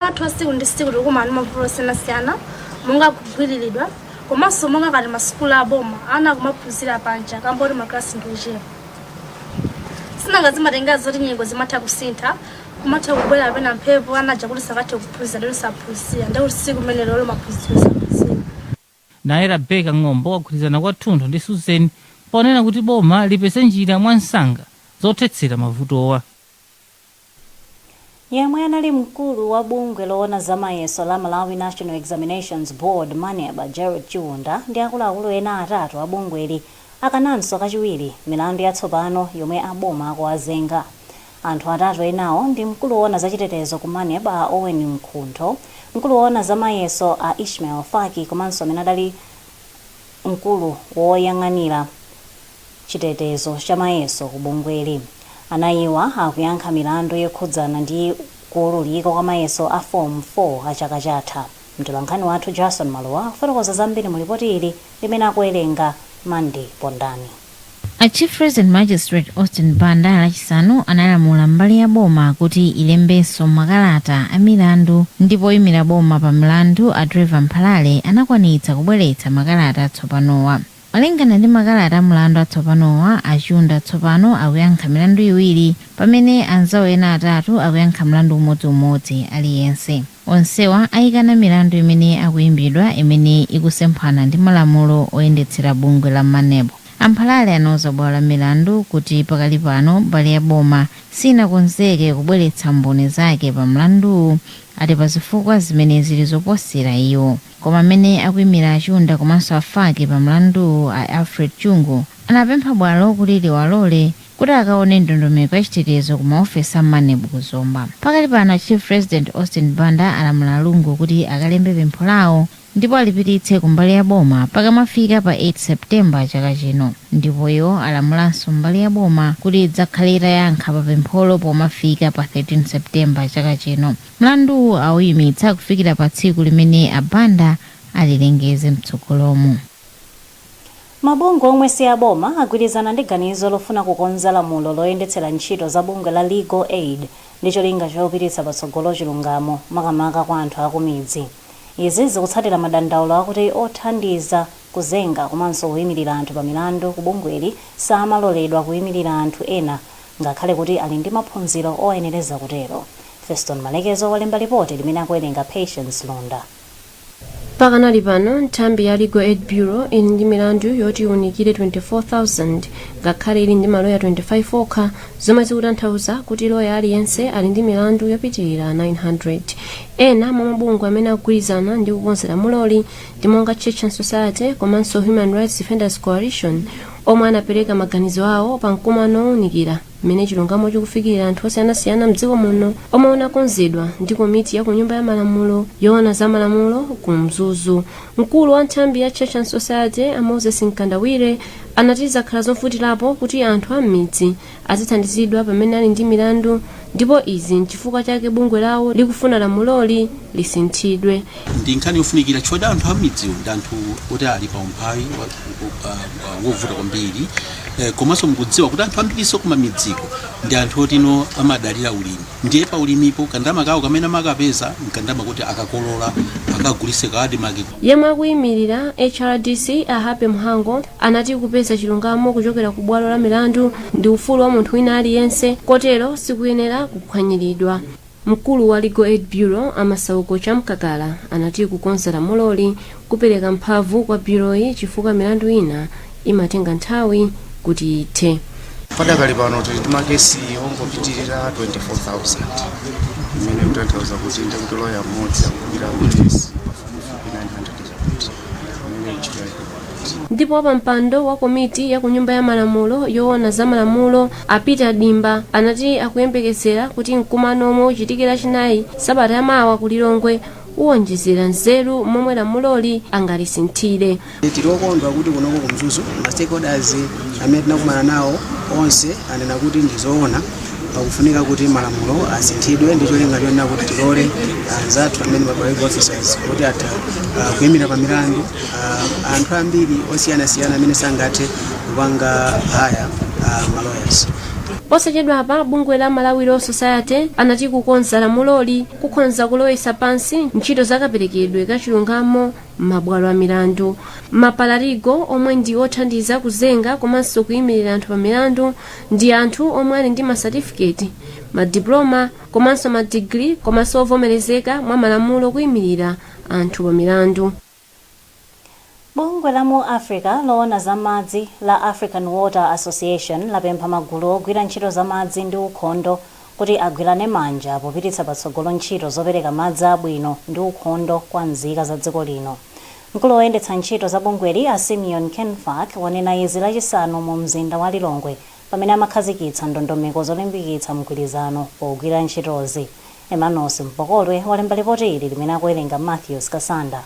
athu a tsiku ndi tsiku tikumana ndi mavuto osiyanasiyana monga kugwiriridwa komanso monga ngati masukulu aboma ana akumaphunzira panja kamba kuti maklasi ndi ochepa sinanga zimatengera zoti nyengo zimatha kusintha kumatha kubwera kapena mphepo anaja kuti sangathe kuphunzira lero saphunzira ndikuti tsiku limene lolo maphunziro saphunzira Naye Rebecca Ng'ombo agwirizana kwathunthu ndi Susan ponena kuti boma lipeze njira mwansanga zothetsera mavutowa. Yemwe anali mkulu wa bungwe loona za mayeso la Malawi National Examinations Board, Maneb, a Gerald Chiunda ndi akuluakulu ena atatu a bungweli akananso kachiwiri milandu yatsopano yomwe a boma akuwazenga. Anthu atatu enawo ndi mkulu woona za chitetezo ku Maneb a Owen Mkhuntho, mkulu woona za mayeso a Ishmael Faki komanso amene adali mkulu woyang'anira chitetezo cha mayeso ku bungweli. Anayiwa akuyankha milandu yokhudzana ndi kuululika kwa mayeso a Form 4 a chaka chatha. Mtolankhani wathu Jarson Malowa akufotokoza zambiri mu lipoti ili limene akuwerenga Mandy Pondani. A Chief Resident Magistrate Austin Banda Lachisanu analamula mbali ya boma kuti ilembenso makalata a milandu ndipo oyimira boma pa mlandu a Trevor Mphalale anakwanitsa kubweretsa makalata atsopanowa. Malingana ndi makalata a mlandu atsopanowa, a Chiunda tsopano akuyankha milandu iwiri pamene anzawo ena atatu akuyankha mlandu umodzi umodzi aliyense. Onsewa aikana milandu imene akuimbidwa imene ikusemphana ndi malamulo oyendetsera bungwe la Maneb. A Mphalale anauza bwalo la milandu kuti pakali pano mbali ya boma sinakonzeke kubweretsa mboni zake pa mlanduwu ati pa zifukwa zimene zili zoposera iwo. Koma amene akuimira a Chiunda komanso a Faki pa mlanduwu a Alfred Lungu anapempha bwalo kuti liwalole kuti akaone ndondomeko ya chitetezo ku ma ofesi a Maneb ku Zomba. Pakali pano Chief Resident Austin Banda alamula a Lungu kuti akalembe pempho lawo ndipo alipititse ku mbali ya boma pakamafika pa 8 September chaka chino ndipo iwo alamulanso mbali ya boma kuti idzakhale itayankha pa pempholo pomafika pa 13 September chaka chino. Mlanduwu awuyimitsa kufikira pa tsiku limene a Banda alilengeze mtsogolomu. Mabungwe omwe si aboma agwirizana ndi ganizo lofuna kukonza lamulo loyendetsera ntchito za bungwe la Legal Aid ndi cholinga chopititsa patsogolo chilungamo makamaka kwa anthu akumidzi. Izi zikutsatira madandaulo akuti othandiza kuzenga komanso kuimirira anthu pa milandu ku bungweli samaloledwa kuimirira anthu ena ngakhale kuti ali ndi maphunziro oyenereza kutero. Feston Malekezo walemba lipoti limene akuwerenga Patience Lunda. Pakanali pano, nthambi ya Legal Aid Bureau ili ndi milandu yoti iunikire 24,000 ngakhale ili ndi maloya 25 okha, zomwe zikutanthauza kuti loya aliyense ali ndi milandu yopitirira 900. Ena mwa mabungwe amene agwirizana ndi kukonza lamuloli ndi monga Church and Society komanso Human Rights Defenders Coalition, omwe anapereka maganizo awo pa mkumano wounikira. mmene chilungamo chikufikira anthu osiyanasiyana mdziko muno omwe unakonzedwa ndi komiti ya kunyumba ya malamulo yoona za malamulo ku mzuzu mkulu wa nthambi ya church and society a moses mkandawire anati zakhala zovutirapo kuti anthu a m'midzi azithandizidwa pamene ali ndi milandu ndipo izi nchifukwa chake bungwe lawo likufuna lamuloli lisinthidwe ndi nkhani yofunikira chifukwa choti anthu a m'midziwo ndi anthu oti ali pa umphawi wa- wa- wa- wovuta kwambiri Eh, komanso mukudziwa kuti anthu ambirinso kumamidziko ndi anthu otino amadalira ulimi ndiye pa ulimipo kandama kawo kamene amakapeza nkandama kuti akakolola akagulise ku ADMARC yemwe akuyimirira hrdc a happy mhango anati kupeza chilungamo kuchokera ku bwalo la milandu ndi ufulu wa munthu wina aliyense kotero sikuyenera kuphwanyiridwa Mkulu wa Legal Aid Bureau a Masauko Chamkakala anati kukonza lamuloli kupereka mphamvu kwa bureauyi chifukwa milandu ina imatenga nthawi kuti ithe. Padakali pano tili ndi makesi ongopitirira 24,000 imene ikutanthauza kuti ndekuti loya mmodzi akugwira makesi pafupifupi 900 chakuti imene ntchito yake Ndipo wapampando wa komiti ya kunyumba ya malamulo yoona za malamulo a Peter Dimba anati akuyembekezera kuti mkumano omwe uchitike lachinayi sabata ya mawa ku Lilongwe uwonjezera nzeru momwe lamuloli angalisinthire. Tili okondwa kuti kunoko ku Mzuzu ma stakeholders amene tinakumana nawo onse anena kuti ndi zoona pakufunika kuti malamulo asinthidwe ndi cholinga chonena kuti tilole anzathu amene ma paralegal officers kuti atha ah, kuyimira pa milandu uh, anthu ambiri osiyanasiyana amene sangathe kupanga haya uh, ma lawyers posachedwapa bungwe la malawi law society anati kukonza lamuloli kukhonza kulowesa pansi ntchito zakaperekedwe ka chilungamo m'mabwalo a milandu ma paralegal omwe ndi othandiza kuzenga komanso kuyimirira anthu pa milandu ndi anthu omwe ali ndi masatifiketi madiploma komanso madigiri komanso ovomerezeka mwa malamulo kuyimirira anthu pa milandu. Bungwe la mu Africa loona za madzi la African Water Association lapempha magulu ogwira ntchito za madzi ndi ukhondo kuti agwirane manja popititsa patsogolo ntchito zopereka madzi abwino ndi ukhondo kwa nzika za dziko lino. Mkulu woyendetsa ntchito za bungweli a Simeon Kenfack wanena izi lachisanu mu mzinda wa Lilongwe pamene amakhazikitsa ndondomeko zolimbikitsa mgwirizano pogwira ntchitozi. Emmanuels Mpokotwe walemba ripoti ili limene akuwerenga Matthews Kasanda.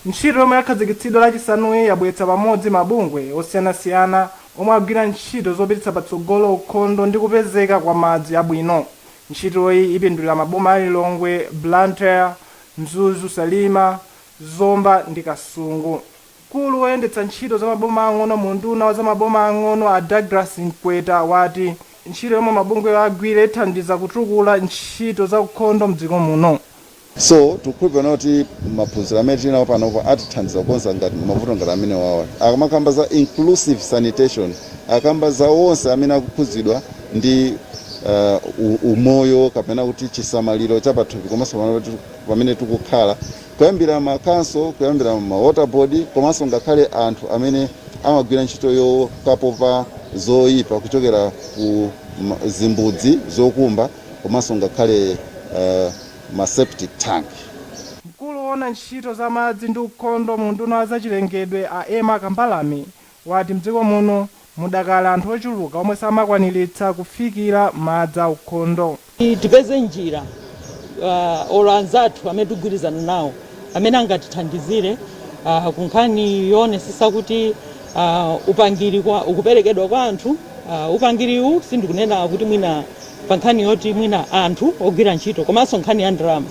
Ntchito yomwe yakhazikitsidwa lachisanuyi yabweretsa pamodzi mabungwe osiyanasiyana omwe agwira ntchito zopititsa patsogolo ukhondo ndi kupezeka kwa madzi abwino. Ntchitoyi ipindulira maboma a Lilongwe, Blantyre, Mzuzu, Salima, Zomba ndi Kasungu. Mkulu woyendetsa ntchito za maboma aang'ono mu unduna wa za maboma aang'ono a Douglas Mkweta wati ntchito yomwe mabungwewa agwire ithandiza kutukula ntchito za ukhondo mdziko muno. So tikukhulupirira kuti maphunziro amene tinawo panopo atithandiza kukonza ngati mavuto ngati amenewawa. Akamakamba za inclusive sanitation akamba za onse amene akukhudzidwa ndi uh, u- umoyo kapena kuti chisamaliro cha pathupi komanso pamene tikukhala Kuyambira ma council, kuyambira ma water board komanso ngakhale anthu amene amagwira ntchito yokapopa zoipa kuchokera ku ma, zimbudzi zokumba komanso ngakhale uh, ma septic tank. Mkulu woona ntchito za madzi ndi ukhondo mu unduna wa zachilengedwe a Emma Kambalame wati mdziko muno mudakali anthu ochuluka omwe samakwaniritsa kufikira madzi aukhondo. Tipeze njira olo anzathu amene tigwirizana nawo amene angatithandizire ku nkhani yoonesesa kuti upangiri ukuperekedwa kwa anthu. Upangiriwu sindikunena kuti mwina pa nkhani yoti mwina anthu ogwira ntchito komanso nkhani ya ndalama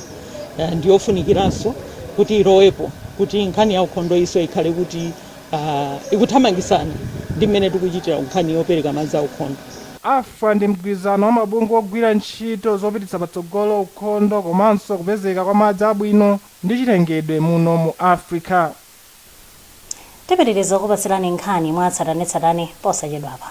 ndiyofunikiranso kuti ilowepo kuti nkhani ya ukhondoyinso ikhale kuti. Aaah ikuthamangisana ndi mmene tikuchitira kunkhani yopereka madzi a ukhondo. AfWA ndi mgwirizano wa mabungwe ogwira ntchito zopititsa patsogolo ukhondo komanso kupezeka kwa madzi abwino ndi chilengedwe muno mu Africa. Tipitiriza kukupatsirani nkhani mwatsatanetsatane posachedwapa.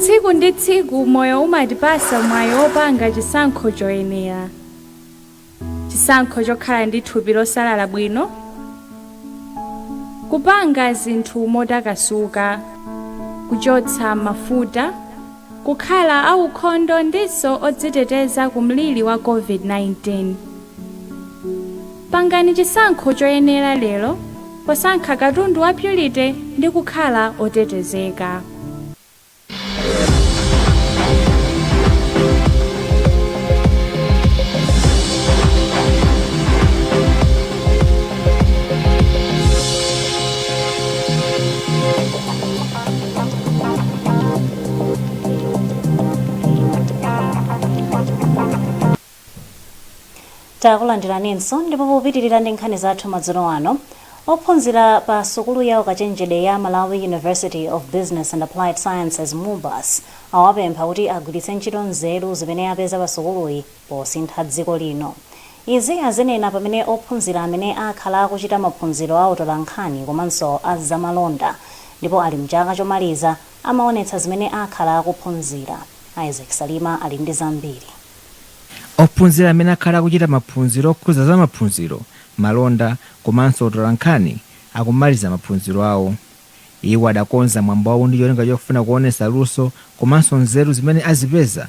Tsiku ndi tsiku moyo umatipasa mwayi wopanga chisankho choyenera, chisankho chokhala ndi thupi losalala bwino, kupanga zinthu motakasuka, kuchotsa mafuta, kukhala aukhondo ndinso odziteteza ku mliri wa COVID-19. Pangani chisankho choyenera lero posankha katundu wa Purity ndi kukhala otetezeka. takulandiraninso ndipo popitirira ndi nkhani zathu madzulo ano ophunzira pa sukulu ya ukachenjede ya malawi university of business and applied sciences mubas awapempha kuti agwiritse ntchito nzeru zimene apeza pa sukuluyi posintha dziko lino Izi azinena pamene ophunzira amene akhala akuchita maphunziro a utolankhani komanso a zamalonda ndipo ali m'chaka chomaliza amaonetsa zimene akhala akuphunzira. Isaac Salima ali ndi zambiri. Ophunzira amene akhala akuchita maphunziro okhudza za maphunziro, malonda komanso utolankhani akumaliza maphunziro awo. Iwo adakonza mwambowu ndi cholinga chofuna kuonetsa luso komanso nzeru zimene azipeza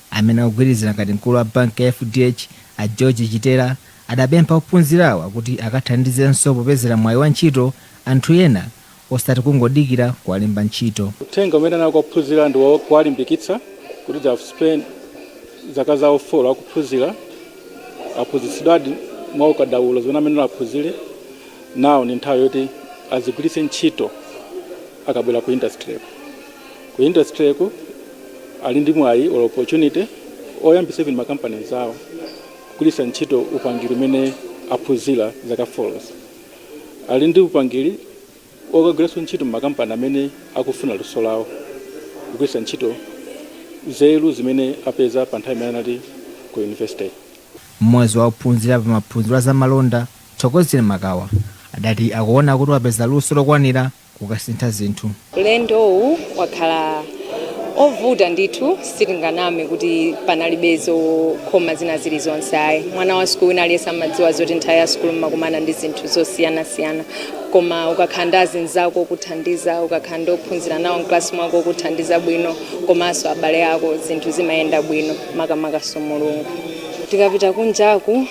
Amene akugwirizira ngati mkulu wa banki ya FDH, a George Chitera, adapempha ophunzirawa kuti akathandizenso popezera mwayi wa ntchito anthu ena osati kungodikira kuwalemba ntchito. Uthenga umene anali kwa ophunzira ndi kuwalimbikitsa kuti they have spent zaka zawo folo akuphunzira, aphunzitsidwadi mwa ukadaulo zimene amayenera aphunzire, now ndi nthawi yoti azigwiritse ntchito akabwera ku industry-ko. ku industry ku ali ndi mwayi or opportunity oyambisa even makampani zawo kugwiritsa ntchito upangiri umene aphunzira zaka folozi ali ndi upangiri okagwiranso ntchito m'makampani amene akufuna luso lawo kugwiritsa ntchito nzeru zimene apeza pa nthawi imene anali ku university Mmodzi wa ophunzira pa maphunziro a zamalonda, Thokozile Makawa, adati akuona kuti wapeza luso lokwanira kukasintha zinthu. Ulendowu wakhala ovuta ndithu sitinganame kuti panalibe zokhoma zina zili zonse ayi. Mwana wa sukulu wina aliyense amadziwa zoti nthawi ya sukulu mumakumana ndi zinthu zosiyanasiyana koma ukakhala ndi azinzako okuthandiza, ukakhala ndi ophunzira nawo m'kalasi mwako okuthandiza bwino komanso abale ako zinthu zimayenda bwino makamakanso Mulungu. Tikapita kunjaku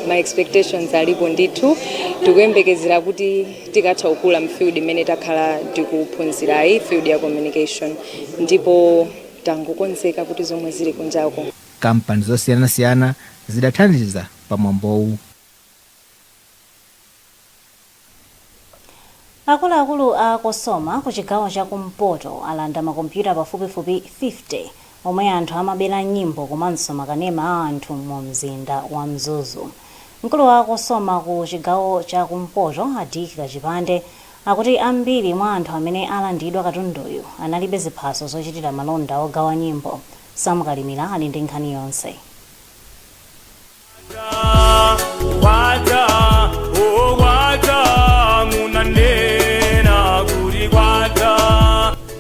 ma expectations alipo ndithu tikuyembekezera kuti. tikatha kukula m'field imene takhala tikuphunzirayi field ya communication ndipo tangokonzeka kuti zomwe zili kunjako Kampani zosiyanasiyana zidathandiza pa mwambowu. Akuluakulu a Cosoma ku chigawo cha kumpoto alanda makompyuta pafupifupi 50 omwe anthu amabera nyimbo komanso makanema a anthu mu mzinda wa Mzuzu. Mkulu wa Cosoma ku chigawo cha kumpoto, a Dick Kachipande, akuti ambiri mwa anthu amene alandidwa katunduyu analibe ziphaso zochitira malonda ogawa nyimbo. Sam Kalimira ali ndi nkhani yonse.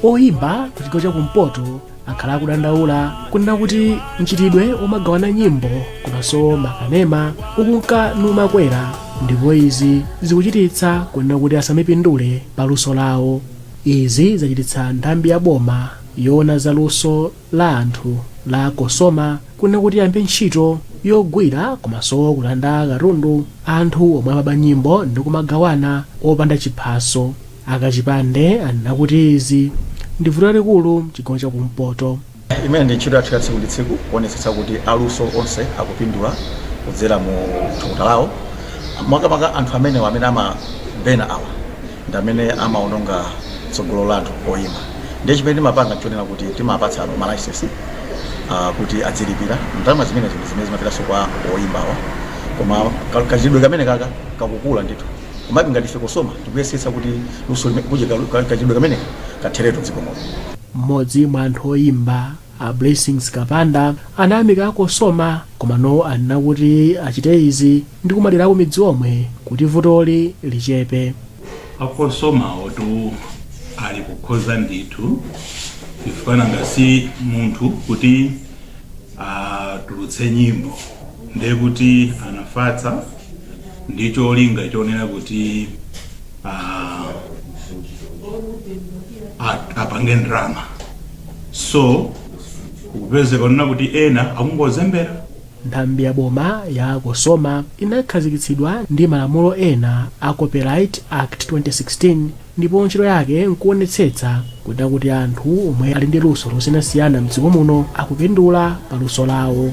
oyimba ku chigawo cha kumpoto akhala akudandaula kunena kuti mchitidwe womagawana nyimbo komanso makanema ukunka nikumakwera ndipo izi zikuchititsa kunena kuti asamapindule pa luso lawo izi zachititsa nthambi ya boma yoona za luso la anthu la Cosoma kunena kuti iyambe ntchito yogwira komanso kulanda katundu anthu omwe amaba nyimbo ndi kumagawana opanda chiphaso. A Kachipande anena kuti izi ndi vuto lalikulu mchigawo cha ku mpoto. Imene ndi ntchito yathu ya tsiku ndi tsiku kuonetsetsa kuti aluso onse akupindula kudzera mu thukuta lawo, makamaka anthu amenewa amene amabena awa. ndi amene amaononga tsogolo la anthu oyimba ndiye chimene timapanga nchonena kuti timapatsa malaisensi uh, kuti adzilipira ndalama zimene zimene zimene zimapitanso kwa oyimbawa koma ka- kachitidwe kameneka kaka kakukula ndithu komabe ngati ife Cosoma tikuyesetsa kuti luso lime- kuti ka- ka- kachitidwe kameneka katheretu dziko muno mmodzi mwa anthu oyimba A Blessings Kapanda anayamika a Cosoma komano anena kuti achite izi ndi kumadera a kumidzi omwe kuti vutoli lichepe. A Cosomawotu ali kukhoza ndithu chifukwa nanga si munthu kuti atulutse nyimbo ndiye kuti anafatsa ndi cholinga chonena kuti ah, a- apange ndrama so kupezeka kunena kuti ena akungozembera nthambi ya boma ya Cosoma inakhazikitsidwa ndi malamulo ena a copyright act 2016 ndipo ntchito yake nkuonetsetsa kunena kuti anthu omwe ali ndi luso losiyanasiyana mdziko muno akupindula pa luso lawo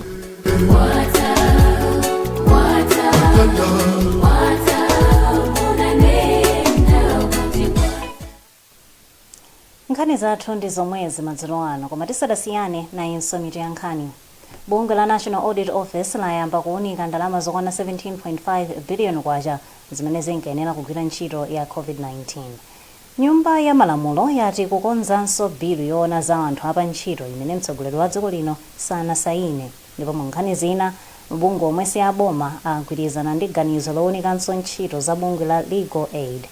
Nkhani zathu ndi zomwezi madzulo ano koma tisadasiyane, nayinso mitu ya nkhani. Bungwe la National Audit Office layamba kuwunika ndalama zokwana K17.5 biliyoni zimene zinkayenera kugwira ntchito ya Covid-19. Nyumba ya Malamulo yati ikukonzanso bilu yowona za anthu a pa ntchito imene mtsogoleri wa dziko lino sanasayine. Ndipo mu nkhani zina, mabungwe omwe si a boma agwirizana ndi ganizo lounikanso ntchito za bungwe la Legal Aid.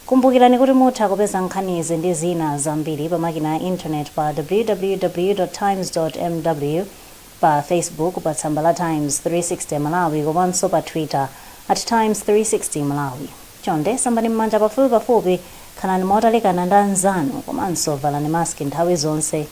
Kumbukirani kuti mutha kupeza nkhanizi ndi zina zambiri pa makina a internet pa www. Times. mw, pa Facebook pa tsamba la Times 360 Malawi komanso pa Twitter at Times 360 Malawi. Chonde sambani m'manja pafupipafupi, khalani motalikana ndi anzanu komanso valani mask nthawi zonse.